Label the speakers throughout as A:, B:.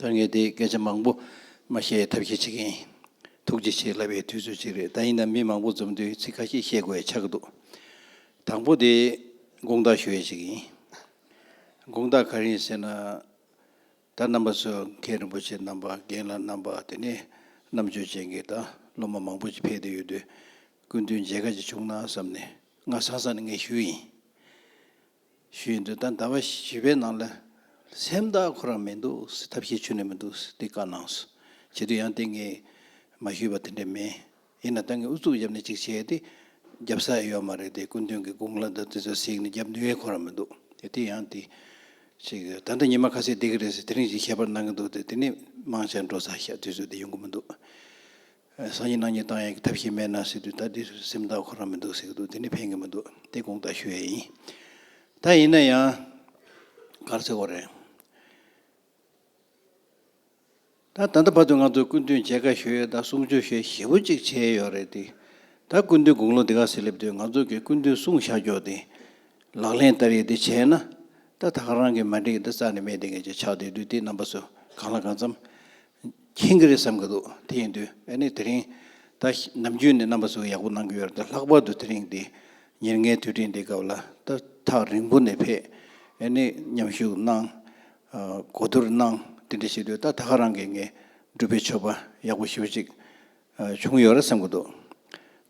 A: ད་ངས་དེ་སྐད་ཆ་མང་པོ་མ་བཤད་ཡའི་ཐབས་ཤེས་བྱེད་ཀྱིན་ཡིན། ཐུགས་རྗེ་ཆེ་ལབ་པའི་དུས་ཚོད་ཅིག་རེད་ད་ཡིན་ནམ་མི་མང་པོ་འཛོམས་དུས་ཚིག་ཁ་ཤས་བཤད་དགོས་ཡ་ཆགས་ཀྱི་འདུག་དང་པོ་དེ་དགོངས་དག་ཞུ་ཡ་ཅིག་ཡིན། དགོངས་དག་ག་རེ་ཡིན་ཟེར་ན། ད་རྣམ་པ་སོ་མཁན་རིན་པོ་ཆེ་རྣམ་པ་རྒན་ལ་རྣམ་པ་དེ་ནས་རྣམ་དཔྱོད་ཅན་གྱི་དང་སློབ་མ་མང་པོ་ཅིག་ཕེབས་ཏེ་ཡོད་དུས་སྐུ་མདུན་མཇལ་ཁ་ཅིག་བྱུང་ན་བསམ་ནས་ང་སང་སང་ནས་ངས་ཞུས་ཡིན། ཞུས་ཡིན་དུས་ད་ཟླ་བ་བཞི་པའི་ནང་ལ་སེམས་ཐག་ཁོ་རང་མི་འདུག་ཟེར་ཐབས་ཤེས་ཆུ་ནས་མི་འདུག་ཟེར་དེ་བཀའ་གནང་སོང་བྱེད་དུས་ཡང་དེ་ངས་མ་ཞུས་པ་དེ་འདྲ་མིན། ཡིན་ན་ཏང་གི་ཨུ་ཚུགས་རྒྱབ་ནས་ཅིག་བྱས་ཏེ་རྒྱབ་ས་ཡོད་མ་རེད་དེ་སྐུ་མདུན་གྱི་དགུང་ལ་ད་དེ་ཚོ་གཟིགས་ནས་རྒྱབ་ནུས་ཁོ་ན་མི་འདུག་དེ་དེ་ཡང་དེ་ཞིག་ད་ལྟ་ཉི་མ་ཁ་ཟས་བསྡད་ཀྱི་རེད་ཟེར་དེ་རིང་བཞིན་ཤེས་པར་གནང་གི་འདུག་དེ་དེ་ནི་དམངས་ཆར་འགྲོ་ས་ཞག་དུས་ཚོད་དེ་ཡོང་གི་མི་འདུག་སང་ཉིན་གནངས་ཉིན་ཏང་ཡོན་གྱི་ཐབས་ཤེས་མེད་ན་ཟེར་དུས་ད་དེ་ཚོས་སེམས་ཐག་ཁོ་རང་མི་འདུག་ཟེར་གྱི་འདུག་དེ་ནི་ཕན་གྱི་མི་འདུག་དེ་དགོངས་དག་ཞུ་ཡས་ཡིན། ད་ཡིན་ན་ཡང་གར་ཚེ་བོ་རེད། ད་ད་ལྟ་བར་དུ་ང་ཚོས་སྐུ་མདུན་མཇལ་ཁ་ཞུས་ཡོད་ད་གསུང་ཆོས་ཞེས་ཞེ་བོ་གཅིག་བྱས་ཡོད་རེད་དེ། ད་སྐུ་མདུན་དགུང་ལོ་འདི་ག་ཟིག་སླེབས་དུས་ང་ཚོ་གིས་སྐུ་མདུན་གསུང་བཞག་རྒྱོགས་དེ། ལག་ལེན་བསྟར་ཡིག་འདི་བྱས་ན། ད་ད་ག་རང་གིས་མ་འགྲིག་གི་འདི་རྩ་ནས་མེད་དེ་ངེད་ཅག་ཆགས་བསྡད་དུས་དེ་རྣམ་པ་ཚོས་གང་ལ་གང་འཚམ། མཁྱེན་གི་རེད་བསམ་གི་འདུག་དེ་ཡིན་དུས་ཨ་ནི་དེ་རིང། ད་ནམ་རྒྱུན་ནས་རྣམ་པ་ཚོས་ཡག་པོ་གནང་གི་ཡོད་རེད་ད་ལྷག་པར་དུ་དེ་རིང་འདི། ཉེར་ལྔའི་དུས་དྲན་འདི་སྐབས་ལ་ད་ཐག་རིང་པོ་ནས་ཕེབས། ཨ་ནི་མཉམ་ཞུགས་གནང། གོ་བསྡུར་གནང། དེ་འདྲ་ཞིག་དུས་ད་ད་ག་རང་གིས་ངས་སྒྲུབ་པའི་ཆོས་པ་ཡག་པོ་ཞུ་ཅིག་བྱུང་ཡོད་རེད་བསམ་གྱི་འདུག་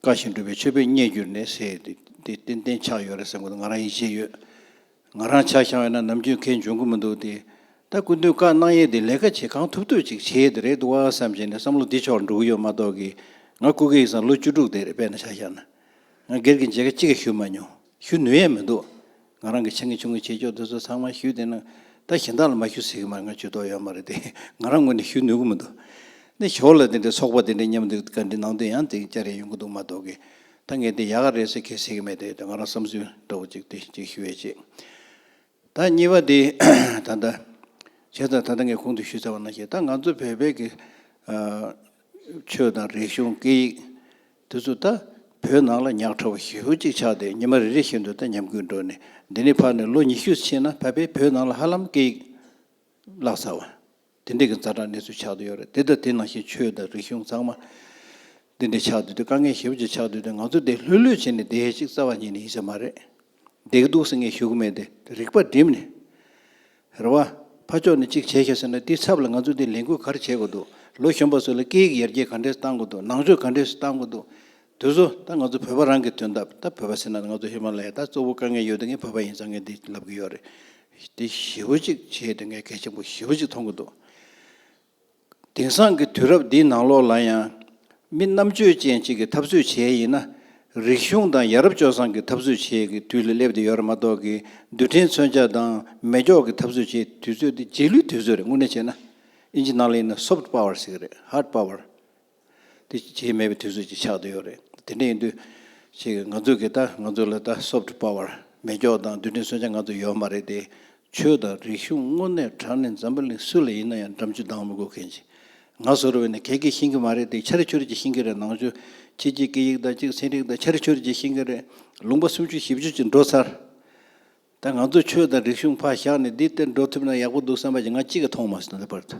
A: བཀའ་བཞིན་སྒྲུབ་པའི་ཆོས་པས་རྙེད་གྱུར་ནས་ཟེར་ཡོད་དེ་ཏན་ཏན་ཆགས་ཡོད་རེད་བསམ་གྱི་འདུག་ང་རང་ཡིད་ཆེས་ཡོད། ང་རང་ཆགས་ཤང་ཡོད་ན་ནམ་རྒྱུན་ཁས་འབྱུང་གི་མི་འདུག་དེ་ད་སྐུ་མདུན་བཀའ་གནང་ཡས་དེ་ལས་ཀ་བྱེད་གང་ཐུབ་ཐུབ་ཅིག་བྱེད་ཡས་དེ་རེད་འདུག་བ་བསམ་བྱས་ནས་བསམ་བློ་འདི་ཕྱོགས་འགྲོ་གི་ཡོད་མ་གཏོགས་ཀྱི་ང་སྐུ་སྒེར་ཡིག་ཚང་ལོ་བཅུ་དྲུག་དེར་དཔལ་ན་ཆགས་ཤང་ན་ང་སྒེར་གྱི་མཇལ་ཁ་གཅིག་ཀྱང་ཞུས་མ་མྱོང། ཞུ་ནུས་ཡས་མི་འདུག་ང་རང་གི་ཆེད་ངའི་ཆུང་ངུའི་ཆེ་ཕྱོགས་འདི་ཚོ་ཚང་མ་ཞུས་དེ་ནང་ད་གཞན་དག་ལ་མ་ཞུ་ཟེར་གི་མ་རེད་ང་ཇུས་གཏོགས་ཡོད་མ་རེད་དེ་ང་རང་ངོས་ནས་ཞུ་ནུས་གི་མི་འདུག་ནས་ཞོར་ལ་དེ་འདྲའི་ཚོགས་པ་དེ་འདྲའི་མཉམ་འདུས་བཀའ་འདྲི་ནང་དུ་ཡང་དེ་ཅག་རེ་ཡོང་གི་འདུག་མ་གཏོགས་གི་ད་ངས་དེ་ཡག་ག་རེད་ཟེར་གི་ཟེར་གི་མེད་དེ་ང་རང་བསམ་ཚུལ་འདྲ་བོ་ཅིག་དེ་གཅིག་ཞུ་ཡས་ཆེ། ད་གཉིས་པ་དེ་ད་ལྟ་བྱས་ཙང་ད་ལྟ་ངས་གོང་དུ་ཞུས་ཚར་བ་ན་ཞེས་ད་ང་ཚོ་བོད་པའི་ཆོས་དང་རིག་གཞུང་སྐད་ཡིག་དེ་ཚོ་ད་བོད་ནང་ལ་ཉག་ཕྲ་བ་ཞི་བོ་ཅིག་ཆགས་ཏེ་ཉི་མ་རེ་རེ་བཞིན་དུ་ད་ཉམས་རྒུད་འགྲོ་ནས་འདི་ནས་ཕར་ནས་ལོ་ཉི་ཤུ་ཕྱིན་ན་ད་བོད་ནང་ལ་ཧ་ལམ་སྐད་ཡིག་བརླག་ཚར་བ། དེ་འདྲ་གི་རྫ་དྲག་གནས་ཚུལ་ཆགས་འདུག་ཡོད་རེད་དེ་ལྟ་དེ་ནང་བཞིན་ཆོས་དང་རིག་གཞུང་ཚང་མ། འདི་འདྲ་ཆགས་འདུག་དེ་དཀའ་ངལ་ཞེ་བོ་ཅིག་ཆགས་འདུག་དེ་ང་ཚོ་དེ་ལྷོད་ལྷོད་བྱས་ནས་བསྡད་ཤིག་རྩ་བ་ཉིད་ནས་ཡིན་ས་མ་རེད། བསྡད་ཀྱི་འདུག་ཟེར་ངེས་ཞུ་གི་མེད་དེ་དེ་རིག་པ་བསྒྲིམས་ནས། རེ་བ། ཕ་ཕྱོགས་ནས་ཅིག་བྱས་ཤིག་ཟེར་ན་དེའི་ཚབ་ལ་ང་ཚོ་དེ་ལས་འགུལ་ག་རེ་བྱེད་དགོས་འདུག་ལོ་གཞོན་པ་ཚོ་ལ་སྐད་ཡིག་ཡར་རྒྱས་ག་འདྲས་སུ་གཏང་དགོས་འདུག་ནང་ཆོས་ག་འདྲས་སུ་གཏང་དགོས་འདུག། དུས་སུ་ད་ང་ཚོ་བོད་པ་རང་གི་དོན་ད་ད་བོད་པ་ཟེར་ན་ང་ཚོ་ཧི་མ་ལ་ཡའི་ད་གཙོ་བོ་དཀའ་ངལ་ཡོད་དུས་ངས་བོད་པ་ཡིན་ཙང་ངས་འདི་ལབ་གི་ཡོད་རེད། འདི་བཞི་བོ་གཅིག་བྱས་དུས་ངས་གལ་ཆེན་པོ་བཞི་བོ་གཅིག་མཐོང་གི་འདུག་དེང་སང་གི་དུས་རབས་འདིའི་ནང་ལོགས་ལ་ཡང། མི་རྣམ་དཔྱོད་ཅན་གཅིག་གི་འཐབ་རྩོད་བྱེད་ཡིན་ན། རིག་གཞུང་དང་ཡ་རབས་སྤྱོད་བཟང་གི་འཐབ་རྩོད་བྱེད་ཀྱི་དུས་ལ་སླེབས་ཏེ་ཡོད་རེད་མ་གཏོགས་ཀྱི་རྡུལ་ཕྲན་མཚོན་ཆ་དང་མེ་སྒྱོགས་ཀྱི་འཐབ་རྩོད་བྱེད་དུས་ཚོད་འདི་རྗེས་ལུས་དུས་ཚོད་རེད་དངོས་གནས་བྱས་ན། ཨིན་ཇི་ནང་ལ་ཡིན་ན Soft Power ཟེར་གི་རེད Hard Power དེ་བྱེད་མེད་པའི་དུས་ཚོད་ཅིག་ཆགས་འདི་ཡོད་རེད། དེ་འདྲ་ཡིན་དུས། ཅིག་གིས་ང་ཚོ་གིས་ད་ང་ཚོ་ལ་ད་སོབ་ཏུ་པ་བར་མེ་སྒྱོགས་དང་རྡུལ་ཕྲན་སོན་ཆ་ང་ཚོ་ཡོད་མ་རེད་དེ། ཆོས་དང་རིག་གཞུང་དངོས་གནས་དྲང་ནས་འཛམ་བུ་གླིང་སུ་ལ་ཡིན་ན་ཡང་འགྲམ་ཆུ་ལྡང་མི་དགོས་མཁན་ཅིག་ང་ཟོ་རུ་བས་ནས་གད་ཀྱིས་ཤིང་གི་མ་རེད་དེ་ཆར་ཆུར་གྱིས་ཤིང་གི་རེད་ནང་ཆུ་ཁྱི་གཅིག་སྐད་ཡིག་དང་གཅིག་ཚན་རིག་དང་ཆར་ཆུར་གྱིས་ཤིང་གི་རེད་ལུང་པ་སུམ་བཅུ་བཞི་བཅུ་ཅིག་འགྲོ་ཚར། ད་ང་ཚོ་ཆོས་དང་རིག་གཞུང་ཕར་བཞག་ནས་འདི་སྟེར་འགྲོ་ཐུབ་ན་ཡག་པོ་འདུག་བསམ་པ་ཅིག་ང་གཅིག་གིས་མཐོང་མ་སོང་ལེ་བར་དུ།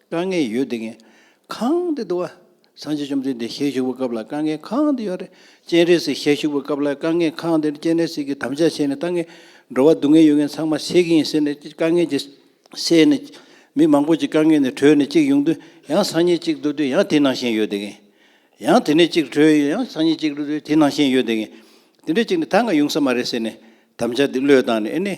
A: དཀའ་ངལ་ཡོད་དེ་ངས་གང་དེ་འདུག་ཨ། སངས་རྒྱས་བཅོམ་ལྡན་འདས་ཞལ་བཞུགས་པའི་སྐབས་ལ་དཀའ་ངལ་གང་དེ་ཡོད་རེད། སྤྱན་རས་གཟིགས་ཞལ་བཞུགས་པའི་སྐབས་ལ་དཀའ་ངལ་གང་དེ་རེད་སྤྱན་རས་གཟིགས་ཀྱིས་དམ་བཅའ་བྱས་ནས་ལྟ་ངན། འགྲོ་བ་སྡུག་བསྔལ་ཡོད་མཁན་ཚང་མ་སེལ་གྱི་ཡིན་ཟེར་ནས་དཀའ་ངལ་གྱི་སེལ་ནས། མི་མང་པོ་ཅིག་དཀའ་ངལ་ནས་གྲོལ་ནས་ཅིག་ཡོང་དུས་ཡང་སང་ཉིན་ཅིག་འགྲོ་དུས་ཡང་དེ་ནང་བཞིན་ཡོད་དེ་ངས། ཡང་དེ་ནས་ཅིག་གྲོལ་ཡང་སང་ཉིན་ཅིག་འགྲོ་དུས་དེ་ནང་བཞིན་ཡོད་དེ་ངས། དེ་འདྲས་ཅིག་ནི་ད་འང་ཡོང་ས་མ་རེད་ཟེར་ནས་དམ་བཅའ་དེ་བློས་བཏང་ནས་ཨེ་ནས་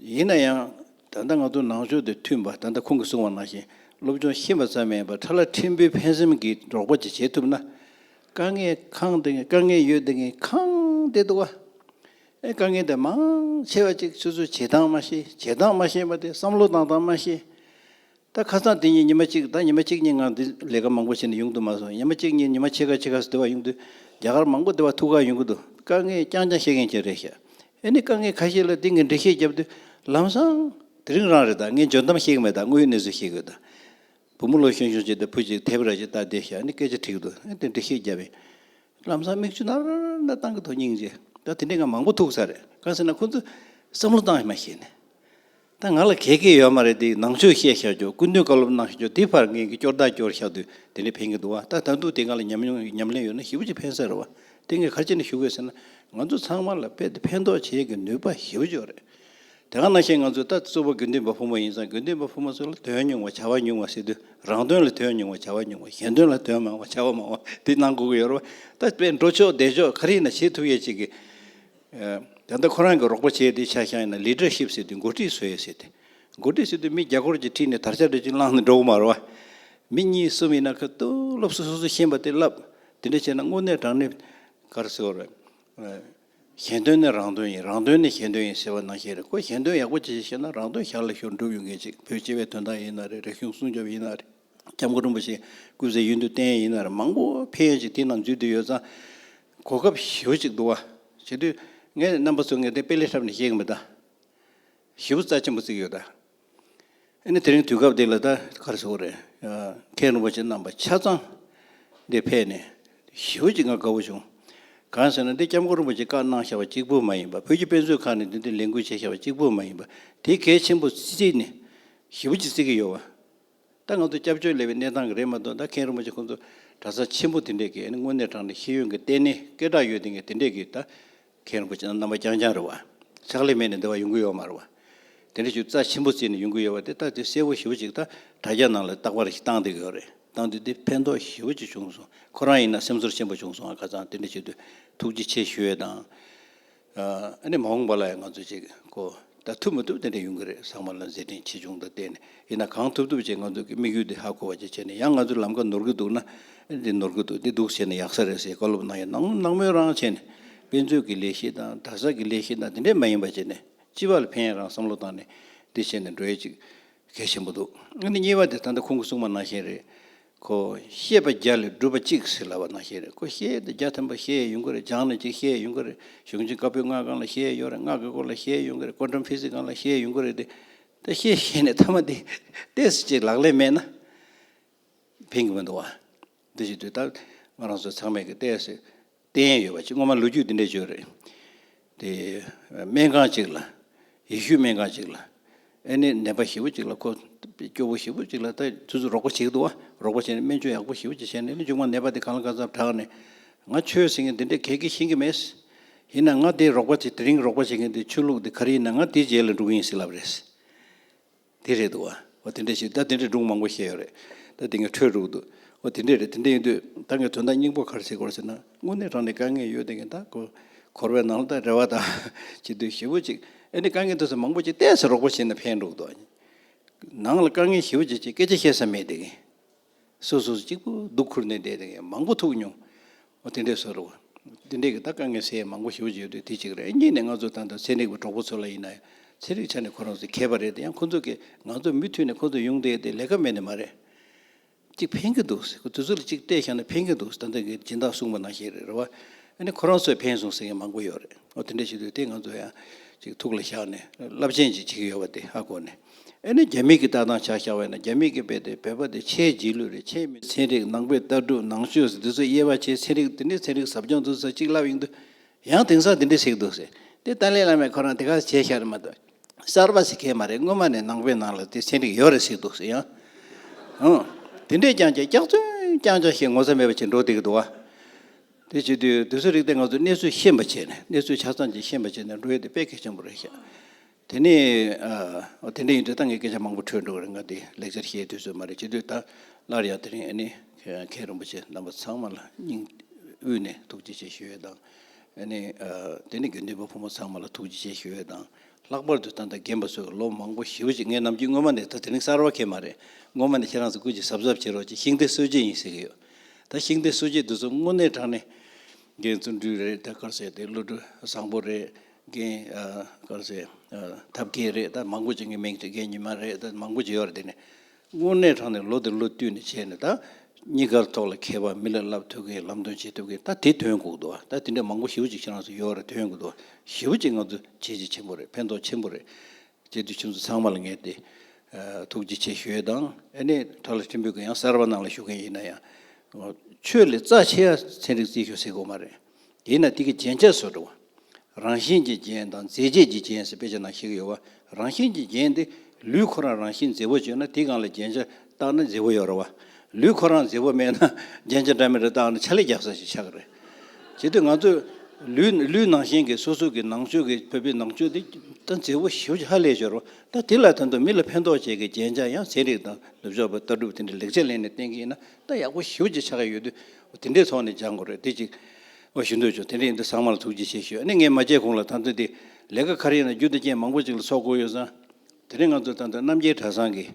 A: ཡིན་ན་ཡང་ད་ལྟ་ང་ཚོ་ནང་ཆོས་དེ་མཐུན་པ་ད་ལྟ་ཁོང་གིས་གསུང་བ་ནང་བཞིན་སློབ་སྦྱོང་ཤེས་པ་ཙམ་མིན་པར་ཁྲ་ལ་ཁྲིམས་དཔོན་ཕན་སེམས་ཀྱིས་འགྲོགས་པ་ཅིག་བྱེད་ཐུབ་ན། དཀའ་ངལ་ཁང་དེ་དཀའ་ངལ་ཡོད་དེ་ཁང་དེ་འདུག་ཨ། དཀའ་ངལ་དེ་མང་ཆེ་བ་ཅིག་ཆུ་ཚོད་བྱེད་སྟངས་མ་ཤེས་བྱེད་སྟངས་མ་ཤེས་པ་དེ་བསམ་བློ་གཏང་སྟངས་མ་ཤེས། ད་ཁ་སང་དེ་གཉིས་ཉི་མ་གཅིག་ད་ཉི་མ་གཅིག་གཉིས་ངང་འདི་ལས་ཀ་མང་པོ་བྱས་ནས་ཡོང་དུ་མ་སོང་ཉི་མ་གཅིག་གཉིས་ཉི་མ་ཕྱེད་ཀ་ཕྱེད་ཀ་སོ་དེ་བ་ཡོང་དུས་རྒྱ་གར་མང་པོ་དེ་བ་ཐུག་ཁག་ཡོང་གི་འདུག་དཀའ་ངལ་རྐྱང་རྐྱང་བཤད་མཁན་གྱི་རེད་ཤག་ཨེ་ནི་དཀའ་ངལ་ཁ་ཤས་ལ་དེ་ངས་འགྲེལ་བཤད་བརྒྱབ་དུས་ལམ་སང། དེ་རིང་རང་རེད་ད་ངས་འཇོན་གཏམ་བཤད་གི་མེད་ད་དངོས་ཡོད་གནས་ཚུལ་བཤད་གི་ཡོད་ད། བུ་མོ་ལོ་གཞོན་གཞོན་བྱས་ཏེ་བུ་གཅིག་དེབ་ར་ཅིག་བཏགས་བསྡད་ཤག་ཨེ་ནི་སྐད་ཆ་འཁྲིག་འདུག་ཨེ་དེ་འགྲེལ་བཤད་བརྒྱབ་ཡིན། ལམ་སང་མིག་ཆུ་ནར་ནར་བཏང་གི་དོ་སྙིང་རྗེ་ད་དེ་འདྲས་ང་མང་པོ་ཐུག་ས་རེད་གང་ཟེར་ན་ཁོང་ཚོས་བསམ་བློ་བཏང་མ་ཤེས་ནས། ད་ང་ལ་གད་སྐད་ཡོད་མ་རེད་དེ་ནང་ཆོས་བཤད་ཤག་ཅོག་སྐུ་མདུན་བཀའ་སློབ་གནང་ཤག་ཅོག་དེ་ཕར་ངན་གྱི་སྐྱོར་བདག་སྐྱོར་ཤག་དུས་དེ་འདྲས་ཕན་གྱི་འདུག་བ་ད་ད་འདུག་དེ་ང་ལ་ཉམས་མྱོང་ཉམས་ལེན་ཡོད་ན་ཞི་བ་གཅིག་ཕན་ས་རེད་བ་དེ་ངས་ག་ཅི་ནས་ཞུ་དགོས་ཟེར་ན་ང་ཚོ་ཚང་མ་ལ་དཔེ་དེ་ཕན་ཐོག་བྱེད་ཀྱི་ནུས་པ་ཞི་བ་ཅོག་རེད་དེ་གང་ན་ཤེས་ང་ཚོ་ད་གཙོ་བོ་དགེ་འདུན་པ་ཕོ་མོ་ཡིན་ཙང་དགེ་འདུན་པ་ཕོ་མོ་ཚོ་ལ་དོན་ཉུང་བ་བྱ་བ་ཉུང་བ་ཟེར་དུས་རང་དོན་ལ་དོན་ཉུང་བ་བྱ་བ་ཉུང་བ་གཞན་དོན་ལ་དོན་མང་བ་བྱ་བ་མང་བ་དེ་གནང་དགོས་ཀྱི་ཡོད་རེད་བ་ད་དཔེ་འགྲོ་ཆོག་བསྡད་ཆོག་ག་རེ་ཡིན་ན་བྱེད་ཐུབ་ཡས་བྱེད་ཀྱི། ད་ལྟ་ཁོ་རང་གིས་རོགས་པ་བྱས་ཏེ་ཤ་ཞང་ཡིན་ན Leadership ཟེར་དུས་མགོ་ཁྲིད་བཟོས་ཡོད་ཟེར་ཏེ། མགོ་ཁྲིད་ཟེར་དུས་མི་བརྒྱ་སྐོར་གྱིས་ཁྲིད་ནས་དར་ཆ་འབྲི་ཆུ་བླངས་ནས་འགྲོ་གི་མ་རེད་བ། མི་གཉིས་གསུམ་ཡིན་ན་ཁ་བཏུ་ལོབས་སུ་སོ་སོས་ཤེས་པ་དེ་ལབ། དེ་འདྲ་བྱས་ན་དངོས་གནས་དྲང་ནི། གར་སེ་བ་རེད། གཞན་དོན་ནི་རང་དོན་ཡིན་རང་དོན་ནི་གཞན་དོན་ཡིན་ཟེར་བ་ནང་བཞིན་རེད་ཁོ་གཞན་དོན་ཡག་པོ་བྱེད་ཤེས་ན་རང་དོན་ཞར་ལ་ཤོར་འགྲུབ་ཡོང་གི་ཅིག་བོད་སྤྱི་བའི་དོན་དག་ཡིན་ན་རེད་རིག་གཞུང་སྲུང་སྐྱོབ་ཡིན་ན་རེད་སྐྱབས་མགོན་རིན་པོ་ཆེ་སྐུ་ཚེ་ཡུན་དུ་བརྟན་ཡིན་ན་རེད་མང་པོ་ཕན་ཡོད་ཅིག་དེའི་ནང་འཇུས་བསྡུས་ཡོད་ཙང། གོ་སྐབས་ཞིབ་ཅིག་འདུག་བ། བྱེད་དུས། ངས་རྣམ་པ་ཚོ་ངས་དེ་དཔེ་ལས་ཧྲབ་ནས་བཤད་གི་མི་གདའ། ཞིབ་པོ་རྩ་ཆེན་པོ་བརྩིགས་ཡོད་གདའ། ཨེ་ནི་དེ་རིང་དུས་སྐབས་འདི་ལ་ད་གར་ཟེར་བ་རེད། མཁན་རིན་པོ་ཆེ་རྣམ་པ་ཆ་ཚང་འདི་ཕེབས་ནས། ཞིབ་པོ་ཅིག་ང་དགའ་བོ་བྱུང། གང་ཟེར་ན་འདི་སྐྱབས་མགོན་རིན་པོ་ཆེ་བཀའ་གནང་ཤར་བ་གཅིག་པུ་མ་ཡིན་པ་བོད་ཀྱི་དཔེ་མཛོད་ཁང་ནས་འདི་འདི་ལས་འགུལ་བྱས་ཤར་བ་གཅིག་པུ་མ་ཡིན་པ་དེ་གལ་ཆེན་པོ་བརྩིས་ནས་ཞིབ་པོ་ཅིག་བརྩིགས་ཀྱི་ཡོད་བ། ད་ང་ཚོ་སྐྱབས་བཅོལ་ལས་པའི་གནས་སྟངས་རེད་མ་གཏོགས་ད་མཁན་རིན་པོ་ཆེ་ཁོང་ཚོ་གྲྭ་ས་ཆེན་པོ་དེ་འདྲས་ཀྱི་དངོས་གནས་དྲང་ནས་ཤེས་ཡོན་གྱི་ལྟེ་གནས་སྐད་གྲགས་ཡོད་དེ་ངས་དེ་འདྲས་ཀྱི་ད་མཁན་རིན་པོ་ཆེ་རྣམ་པ་རྐྱང་རྐྱང་རེད་བ། ཕྱག་ལས་མེད་ནས་འདི་བ་ཡོང་གི་ཡོད་མ་རེད་བ། དེ་འདྲས་ཞུ་རྩ་ཆེན་པོ་བརྩིས་ནས་ཡོང་གི་ཡོད་བ་དེ་ད་དེ་གསལ་བོ་ཞིབ་བོ་ཅིག་ད་དྲ་རྒྱ་ནང་ལ་བཏགས་པ་རེ་ཞིག་བཏང་འདི་གི་ཡོད་རེད་བཏང་དུས་དེ་ཕན་ཐོགས་ཞིབ་བོ་ཅིག་བྱུང་སོང་ཁོ་རང་ཡིན་ན་སེམས་ཚོར་ཆེན་པོ་བྱུང་སོང་ང་ཁ་ཚང་དེ་འདྲས་བྱེད་དུས་ཐུགས་རྗེ་ཆེ་ཞུ་ཡོད་དང། ཨ་ནི་མ་འོངས་པ་ལ་ཡང་ང་ཚོས་ཅིག་གོ། ད་ཐུབ་མི་ཐུབ་དེ་འདྲ་ཡོང་གི་རེད་ཟག་མ་ལ་མཛད་འཕྲིན་ཆེ་ཆུང་དང་བལྟས་ནས་ཡིན་ན་གང་ཐུབ་ཐུབ་བྱེད་ང་ཚོ་གི་དམིགས་ཡུལ་དེ་ཧ་གོ་བ་བྱེད་བྱས་ནས་ཡང་ང་ཚོའི་ལམ་ཁ་ནོར་གི་འདུག་ན་འདི་ནོར་གི་འདུག་འདི་སྡུག་བྱས་ནས་ཡག་ས་རེད་ཟེར་བཀའ་སློབ་གནང་ཡ་གནང་གནང་མོད་རང་བྱས་ནས་དཔེ་མཛོད་ཀྱི་ལས་ཤེས་དང་དར་ཟབ་ཀྱི་ལས་ཤེས་དང་དེ་འདྲས་མ་ཡིན་པ་བྱས་ནས་སྤྱི་བ་ལ་ཕན་ཡ་རང་བསམ་བློ་བཏང་ནས་འདི་བྱས་ནས་འགྲོ་ཡ་ཅིག་གལ་ཆེན་པོ་འདུག་ཨ་ནི་གཉིས་པ་དེ་ད་ལྟ་ཁོང་གི་གསུང་མ་གནང་བཞིན་རེད། ཁོ་ཤེས་པ་བརྒྱ་ལས་སྒྲུབ་པ་གཅིག་ཟིལ་ལ་བ་ན་ཤེས་རེད་ཁོ་ཤེས་དེ་བརྒྱ་ཐོན་པ་ཤེས་ཡོང་གི་རེད་སྦྱངས་ནས་གཅིག་ཤེས་ཡོང་གི་རེད་གཞུང་ཆེན་བཀའ་པོད་ལྔ་གང་ལ་ཤེས་ཡོང་རེད་སྔགས་ཀྱི་སྐོར་ལ་ཤེས་ཡོང་གི་རེད་ཀོ་འགྲོམ་ཕི་སི་གང་ལ་ཤེས་ཡོང་གི་རེད་དེ་ད་ཤེས་ཤེས་ནས་ཐ་མ་དེ་ལྟས་སུ་གཅིག་ལག་ལས་མེད་ན་ཕན་གི་མི་འདུག་བ་འདི་ཞིག་དུས་ད་ང་རང་ཚོ་ཚང་མས་གི་ལྟས་སུ་བསྟན་ཡོད་པ་གཅིག་སྔོན་མ་ལོ་རྒྱུས་འདི་འདྲས་བརྗོད་རེད། དེ་སྨན་ཁང་གཅིག་ལ། ཡེ་ཤུའི་སྨན་ཁང་གཅིག་ལ། ཨེ་ནི་ནད་པ་ཞིབ་པོ་གཅིག་ལ་ཁོ་སྐྱོ་བོ་ཞིབ་པོ་གཅིག་ལ་ད་ཚུད་ཚུད་རོགས་པ་བྱེད་ཀྱི་འདུག་ཨ། རོགས་པ་བྱས་ནས་སྨན་བཅོས་ཡག་པོ་ཞིབ་པོ་གཅིག་བྱས་ནས་ཨེ་ནི་མཇུག་མ་ནད་པ་དེ་གང་ལ་གང་འཚམ་དྲགས་ནས། ང་ཆོས་ཟེར་མཁན་འདི་འདྲས་གལ་གི་ཤེས་ཀྱི་མེད། ཡིན་ན་ང་དེ་རོགས་པ་བྱེད་དེ་རིང་རོགས་པ་བྱེད་མཁན་དེ་ཆོས་ལུགས་དེ་ག་རེ་ཡིན་ན་ང་དེའི་རྗེས་ལ་འགྲོ་གི་ཡིན་ཟེར་ལབ་རེད། དེ་རེད་འདུག་ཨོ་དེ་འདྲས་ཤིག་ད་དེ་འདྲས་སྒྲུང་མང་པོ་བཤད་ཡོད་རེད་ད་དེ་ངས་འཕྲོད་འདུག་ཨོ་དེ་འདྲས་རེད་དེ་འདྲས་ཡིན་དུས་ད་ངས་དོན་དག་སྙིང་པོ་གར་བྱེད་དགོས་ཟེར་ན་དངོས་གནས་རང་ནས་དཀའ་ངལ་ཡོད་དེ་ངས་ད་གོར་བའི་ནང་ལ་ད་རེ་བ་དང་བྱེད་དུས་ཞེ་བོ་ཅིག་ཨེ་ནས་དཀའ་ངལ་འདུག་ཟེར་མང་པོ་ཅིག་བལྟས་ཟེར་རོགས་པ་བྱས་ན་ཕན་འདུག་ཏུ། ནང་ལ་དཀའ་ངལ་ཞེ་བོ་ཅིག་ཅིག་སྐད་ཆ་བཤད་ས་མེད་དེ། སོ་སོ་གཅིག་པུ་སྡུག་ཁུར་ནས་བསྡད་དེ་མང་པོ་ཐུག་མྱོང། འོ་དེ་འདྲས་བཟོ་རོགས། དེ་འདྲས་ཀྱི་ད་དཀའ་ངལ་སེལ་ཡས་མང་པོ་ཞུ་ཞུ་དུས་དེ་གཅིག་རེད་གཉིས་ནས་ང་ཚོ་ད་དུང་ཚན་རིག་པའི་གྲོགས་པོ་ཚོ་ལ་ཡིན་ན་ཡང་ཚན་རིག་ཆ་ནས་ཁོ་རང་ཚོ་མཁས་པ་རེད་དེ་ཡང་ཁོ་ཚོ་གིས་ང་ཚོ་མུ་མཐུད་ནས་ཁོ་ཚོ་ཡོང་བསྡད་དེ་ལས་ཀ་མེད་ནི་མ་རེད། གཅིག་ཕན་གྱི་འདུག་ཟེར་དུས་ཚོད་ལ་གཅིག་སྤྲད་ཤག་ན་ཕན་གྱི་འདུག་ད་ལྟ་གི་སྦྱིན་བདག་གསུངས་པ་ནང་བཞིན་རེད་རེད་བ། ཨ་ནི་ཁོ་རང་ཚོས་ཕན་སོང་ཟེར་མཁན་མང་པོ་ཡོད་རེད་འོ་དེ་འདྲས་ཞུ་དུས་དེ་ང་ཚོ་ཡང་གཅིག་ཐུགས་ལ་བཞག་ནས་རླབས་ཆེན་གཅིག་བྱེད་ཀྱི་ཡོད་བ་དེ་ཧ་གོ་ནས། ཨེ་ནི་རྒྱ་མིག་གིས་ལྟ་སྟངས་བྱ་ཤ་བས་ན་རྒྱ་མིག་གིས་བས་ཏེ་བོད་པ་དེ་ཆེས་རྗེས་ལུས་རེད་ཆེས་མི་ཚན་རིག་ནང་པའི་ལྟ་གྲུབ་ནང་ཆོས་འདི་ཚོ་དབྱེ་བ་ཆེས་ཚན་རིག་འདི་འདྲའི་ཚན་རིག་ཟབ་སྦྱོང་འདུག་ས་གཅིག་ལབ་ཡིན་འདུག་ཡང་དེང་སང་འདི་འདྲའི་ཞིག་འདུག་ཟེར་དེ་ཏཱ་ལའི་བླ་མས་ཁོ་རང་དེ་ག་བྱས་ཤར་རེད་མ་གཏོགས་གསར་པ་ཞིག་གས་མ་རེད་སྔོན་མ་ནས་ནང་པའི་ནང་ལ་དེ་ཚན་རིག་ཡོད་རེད་ཟེར་འདུག་ཟེར་ཡང་ཧུ་དེ་འདྲས་ཀྱང་བྱས་སྐྱག་རྫུན་རྐྱང་རྐྱང་བཤད་ངོ་ཚ་མེད་པ་བྱས་འགྲོ་བསྡད་ཀྱི་འདུག་བ། དེ་བྱེད་དུས་དེ་ཚོའི་རིགས་དེ་ང་ཚོས་གནས་ཚུལ་ཤེས་མ་བྱས་ནས་གནས་ཚུལ་ཆ་ཚང་ཅིག་ཤེས་མ་བྱས་ནས་འགྲོ་ཡོད་དེ་དཔེ་གལ་ཆེན་པོ་རེད་ཤག། དེ་ནི་འོ་དེ་འདྲ་ཡིན་དུས་ད་ངས་སྐད་ཆ་མང་པོ་འཕྲོས་འགྲོ་གི་རེད་ང་འདི་ལེགས་སྦྱར་བཤད་དུས་ཚོད་མ་རེད་བྱས་དུས་ད་སླར་ཡང་དེ་རིང་ནི་མཁན་རིན་པོ་ཆེ་རྣམ་པ་ཚང་མ་ལ་སྙིང་དབུས་ནས་ཐུགས་རྗེ་ཆེ་ཞུ་འོས་དང། ནི་དེ་ནི་དགེ་འདུན་པ་ཕོ་མོ་ཚང་མ་ལ་ཐུགས་རྗེ་ཆེ་ཞུ་འོས་དང། ལྷག་པར་དུ་ད་ལྟ་རྒན་པ་ཚོས་ཀྱི་ལོ་མང་པོ་ཞི་བ་བྱས་ངས་ནམ་རྒྱུན་སྔོན་མ་ནས་ད་དེ་རིང་གསར་བ་ཁེལ་མ་རེད་སྔོན་མ་ནས་ཁྱེད་རང་ཚོ་ཀུན་གྱིས་གཟབ་གཟབ་བྱེད་རོགས་ཅེས་ཤིང་རྟའི་སྲོལ་འབྱེད་ཡིན་ཟེར་གྱི་ཡོད། ད་ཤིང་རྟའི་སྲོལ་འབྱེད་དུས་ཚོད་དངོས་གནས་དྲང་ནས། རྒན་བརྩོན་འགྲུས་རེད་ད་དཀར་ཟས་དེ་བློ་གྲོས་བཟང་པོ་རེད། རྒན། སྐར་ཚེ། ཐབས་མཁས་རེད་ད་མང་པོ་བྱེད་མཁན་མིང་ཅིག་རྒན་ཉི་མ་རེད་ད་མང་པོ་བྱེད་ཡོད་རེད་དེ་ནས། དངོས་གནས་དྲང་ནས་ལོ་དེར་ལོ་བསྟུད་ནས་བྱས་ནས་ད། གཉིས་ཀར་ཐོག་ལ་མཁས་པ་མི་ལ་བསླབ་ཐུབ་མཁན་ལམ་སྟོན་བྱེད་ཐུབ་མཁན་ད་དེ་དོན་གུག་འདུག་ད་དེ་འདྲ་མང་པོ་ཞིབ་ཅིག་ཕྱི་ནང་སོགས་ཡོད་རེད་དོན་གུག་འདུག་ཞིབ་ཅིག་ང་ཚོ་བྱས་རྗེས་ཆེན་པོ་རེད་ཕན་ཐོག་ཆེན་པོ་རེད། བྱས་དུས་ཁྱིམ་མཚེས་ཚང་མ་ལ་ངས་དེ། ཐུགས་རྗེ་ཆེ་ཞུས་དང་ཨེ་ནས་དྲ་ལ་ཁྲིམས་འབུད་མཁན་ཡང་གསར་པ་ནང་ལ་ཞུགས་མཁན་ཡིན་ན་ཡང། ཆོས་ལས་རྩ་ཆེ་ཡ་ཚན་རིག་རྩིས་ཞུ་སྲིད་དགོས་མ་རེད། དེས་ན་ཐིག་གི་རྒྱན་ཆ་སོགས་འགྲོ་བ། རང་བཞིན་གྱི་རྒྱན་དང་མཛེས་བྱེད་ཀྱི་རྒྱན་ཞེས་དཔེ་ཆ་ནང་བཤད་ཀྱི་ཡོད་བ། རང་བཞིན་གྱི་རྒྱན་ཏེ། ལུས་ཁོ་རང་རང་བཞིན་མཛེས་པོ་བྱུང་ན་ཐིག་གང་ལ་རྒྱན་ཆ་བཏགས་ན་མཛེས་པོ་ཡོང་རེ་བ། ལུས་ཁོ་རང་མཛེས་པོ་མེད་ན་རྒྱན་ཆ་འདྲ་མི་འདྲ་བཏགས་ན་ཆ་ལེ་རྒྱག་ས་ཞིག་ཆགས་ཀྱི་རེད། བྱེད་དུས་ང་ཚོས། ལུས་ལུས་ནང་བཞིན་གྱི་སོ་སོ་གི་ནང་ཆོས་ཀྱི་བོད་པའི་ནང་ཆོས་དེ་ད་མཛེས་པོ་ཞིབ་ཧ་ལས་ཤོར་བ། ད་དེ་ལ་ཐོན་དུ་མི་ལ་ཕན་ཐོགས་བྱེད་ཀྱི་རྒྱན་ཆ་ཡང་ཚན་རིག་དང་ནུབ་ཕྱོགས་པའི་ལྟ་གྲུབ་དེ་འདྲའི་ལེགས་ཆ་ལེན་ནས་བསྟན་གྱི་ཡིན་ན་ད་ཡག་པོ་ཞིབ་ཅིག་ཆགས་ཀྱི་ཡོད་དུས་དེ་འདྲའི་ཐོག་ནས་སྦྱང་དགོས་རེད་དེ་གཅིག། ཨོ་ཞུ་འདོད་བྱུང་དེ་འདྲ་ཡིན་དུས་ཚང་མར་ཐུགས་རྗེ་ཆེ་ཞུ་ཨ་ནི་ངས་མ་བྱས་གོང་ལ་ད་འདོད་དེ་ལས་ཀ་ཁར་ཡོད་ན་རྒྱུ་དེ་རྐྱེན་མང་པོ་ཅིག་ལ་ཚོགས་དགོས་ཡོད་ཙང། དེ་རིང་ང་ཚོས་ད་འདོད་རྣམ་རྒྱལ་གྲྭ་ཚང་གི་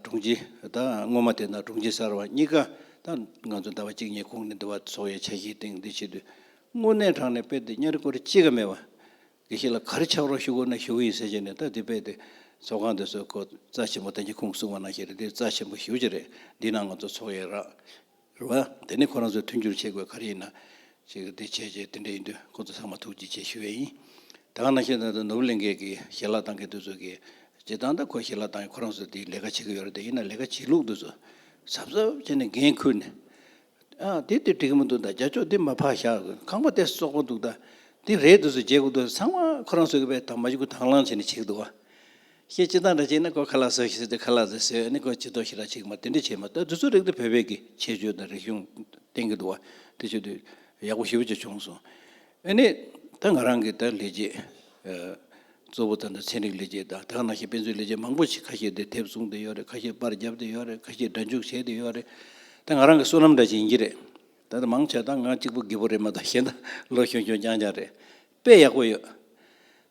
A: དྲུང་ཆེ་དང་སྔོན་མ་དེ་ན་དྲུང་ཆེ་གསར་བ་གཉིས་ཀ་དང་ང་ཚོ་ཟླ་བ་གཅིག་གཉིས་གོང་ནས་འདུ་བ་ཚོགས་ཡོད་ཆ་ཤས་སྟེང་འདི་ཕྱི་དུས་དངོས་གནས་དྲང་ནས་དཔེ་དེབ་གཉའ་རི་ཀོ་རི་གཅིག་ག་མེད་པ་དགེ་བཤེས་ལ་ག་རེ་ཆགས་རོགས་ཞུ་དགོས་ན་ཞུ་གི་ཡིན་ཟེར་བྱས་ནས་ད་དེ་པས་དེ་ཚོགས་ཁང་དེ་ཚོའི་སྐོར་རྩ་ཆེན་པོ་བདེན་གྱི་ཁུངས་གསུངས་པ་ན་ཞེས་རེད་དེ་རྩ་ཆེན་པོ་ཞུ་བྱས་རེད་འདི་ན་ང་ཚོ་ཚོགས་ཡས་ར་རེད་བ། དེ་ནས་ཁོ་རང་ཚོས་མཐུན་འགྱུར་བྱེད་དགོས་ག་རེ་ཡིན་ན་ཅིག་རེད་དེ་བྱས་བྱས་དེ་འདྲ་ཡིན་དུས་ཁོ་ཚོ་ཚང་མ་ཐུགས་རྗེ་ཆེ་ཞུ་ཡས་ཡིན། ད་ག་ན་ཤེས་ད་དུ་ནོར་བུ་གླིང་ཁའི་གི་ཞལ་ལག་ཐང་གི་དུས་ཚོད་ཀྱི་བྱེད་སྟངས་དང་ཁོ་ཞལ་ལག་ཐང་གི་ཁོ་རང་ཚོས་དེ་ལས་ཀ་བྱེད་ཀྱི་ཡོད་རེད་དེ་ཡིན་ན་ལས་ཀ་བྱེད་ལུགས་དུས་ཚོད་ཟབ་ཟབ་བྱས་ནས་འགན་ཁུར་ནས། དེ་འདི་འགྲིག་གི་མི་འདུག་ད་རྒྱ་ཕྱོགས་འདི་མ་ཕར་བཞག་ཁང་པ་དེ་བསོག་པོ་འདུག་ད་འདི་རེད་འདུག་ཟེར་རྗེས་ཁུ་དོ་ཚང་མ་ཁོ་རང་བསོད་པའི་དང་མ་གཞི་ཁུ་དྭངས་ལང་བྱས་ནས་ཆིག་འདུག་ཤེས་ཅི་ད་འདྲ་བྱས་ན་ཁོ་ཁ་ལག་ཟོས་ཤིག་ཟེར་ཏེ་ཁ་ལག་ཟས་ཟོས་ནས་ཁོ་ཆིག་ཐོག་ཤི་ར་ཆིག་མ་དེ་འདྲ་བྱས་མ་ད་དུས་ཚོད་རིང་དུ་བོད་པའི་གི་ཆེ་ཆོས་དང་རིག་གཞུང་བསྟན་གི་འདུག་དེ་ཆོས་དུས་ཡག་པོ་ཞིབ་ཅིག་བྱུང་སོང་ཨ་ནི་ད་ང་རང་གི་ད་ལས་རྗེས། གཙོ་བོ་ད་ལྟ་ཚན་རིག་ལས་བྱེད་དང་དག་སྣང་ཞིག་དཔེ་མཛོད་ལས་བྱེད་མང་པོ་ཞིག་ཁ་ཤས་དེ་དེབ་བཟུང་དེ་ཡོད་རེད་ཁ་ཤས་པར་རྒྱབ་དེ་ཡོད་རེད་ཁ་ཤས་སྒྲ་འཇུག་བྱས་དེ་ཡོད་རེད་དེ་ང་རང་གི་བསོད་ནམས་འདྲ་བྱིན་གྱི་རེད་ད་ལྟ་མང་ཆེ་ད་ང་གཅིག་པུ་དགེ་བོ་རེད་མ་ད་གཞན་ད་ལོ་ཤོང་ཤོང་རྐྱང་རྐྱང་རེད་དཔེ་ཡག་པོ་ཡོད་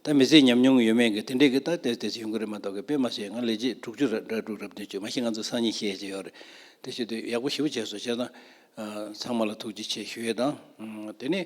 A: ད་མི་ཚེ་ཉམས་མྱོང་ཡོད་མེད་གི་དེ་འདྲས་གི་ད་དེ་དེ་ཡོང་གི་རེད་མ་ད་གི་དཔེ་མ་བྱས་ང་ལས་བྱེད་དྲུག་ཅུ་རེད་དྲ་དྲུག་རབ་བདུན་ཅུ་མ་ཤི་ང་ཚོ་སང་ཉིན་ཤེས་ཀྱི་ཡོད་རེད་དེ་ཤི་དེ་ཡག་པོ་ཞིབ་བྱས་སོ་བྱས་ད་ཚང་མ་ལ་ཐུགས་རྗེ་ཆེ་ཞུ་ཡི་དང་དེ་ནས།